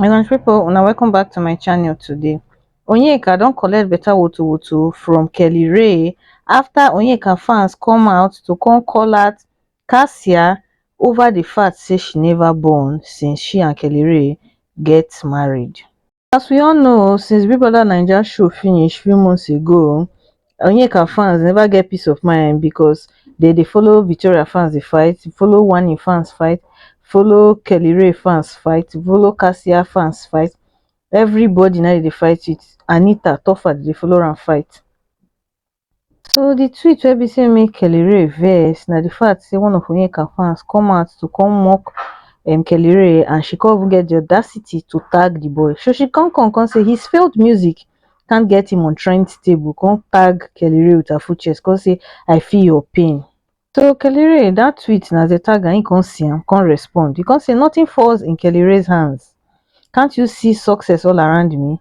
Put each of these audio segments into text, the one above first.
my country people una welcome back to my channel today onyeka don collect better woto woto from kelly ray after onyeka fans come out to come call out cassia over the fact say she never born since she and kelly ray get married As we all know o, since Big Brother Naija show finish few months ago, Onyeka fans never get peace of mind because they dey follow Victoria fans dey fight, follow Wani fans fight, follow Kelly Ray fans fight, follow Cassia fans fight. Everybody na dey dey fight with Anita Toffa dey dey follow am fight. So di tweet wey be say make Kelly Rae vex na di fact say one of Onyeka fans come out to come mock um Kelly Rae and she come even get di audacity to tag di boy so she come come come say his failed music can't get him on trend table come tag Kelly Rae with her full chest come say I feel your pain. So Kelly Rae dat tweet na as dem tag am he come see am come respond he come say nothing falls in Kelly Rae's hands can't you see success all around me.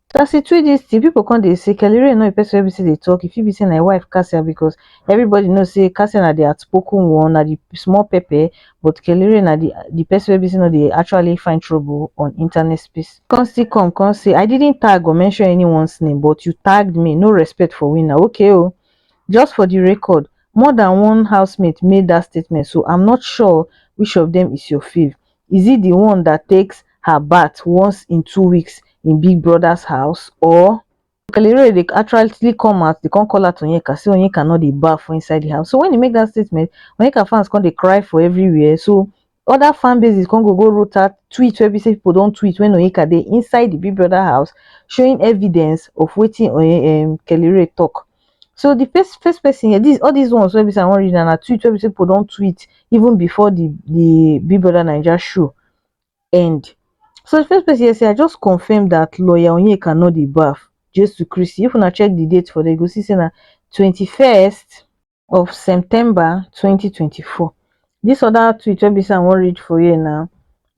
So as e tweet dis thing, people come dey say Kelly Rae no be person wey be say dey talk. E fit be say na im wife Cassia because everybody know say Cassia na the outspoken one, na the small pepper, but Kelly Rae na the the person wey be say no dey actually find trouble on internet space. Come still come come say I didn't tag or mention anyone's name but you tagged me, no respect for winner, okay o. Just for the record, more than one housemate made that statement so I'm not sure which of them is your fave. is it the one that takes her bath once in two weeks in big brother's house or Kellyrae dey actually come out dey come call out Onyeka say Onyeka no dey baff for inside the house so when he make that statement Onyeka fans come dey cry for everywhere so other fan bases come go go wrote out tweet wey be say people don tweet when Onyeka dey inside the Big Brother house showing evidence of wetin Onye um Kellyrae talk so di first first pesin here dis all dis ones wey be sey I wan read now na tweet wey be sey pipu don tweet even before di di Big Brother Naija show end. So di first pesin here say I just confirm dat lawyer Onyeka no dey baff Jesu Kristi if una check di date for there you go see sey na twenty first of September twenty twenty four. Dis other tweet wey be sey I wan read for here now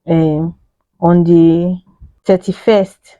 um on di thirty first.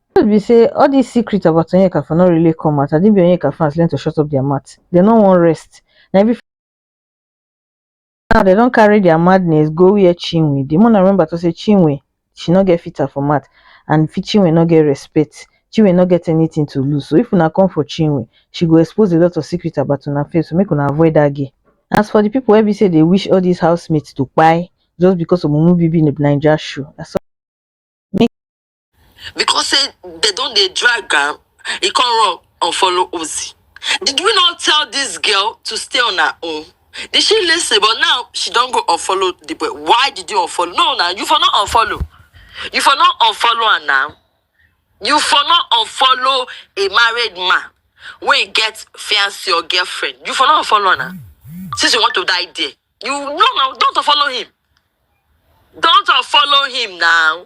truth be say all this secret about onyeka for no really come out na be onyeka fans learn to shut up their mouth dem no wan rest na every now dem don carry their madness go where chinwe dey mona remember to say chinwe she no get filter for mouth and chinwe no get respect chinwe no get anything to lose so if una come for chinwe she go expose a lot of secret about una fame so make una avoid that girl as for the people wey be say dey wish all these housemates to kpai just because of mumu bibi naija show na so because say they don dey drag am e come run unfollow Ozzy did we not tell this girl to stay on her own did she listen but now she don go unfollow the boy why did you unfollow no na you for not unfollow you for not unfollow am now you for not unfollow a married man wey get fiancé or girlfriend you for not unfollow am now since you want to die there you no na don't unfollow him don't unfollow him now.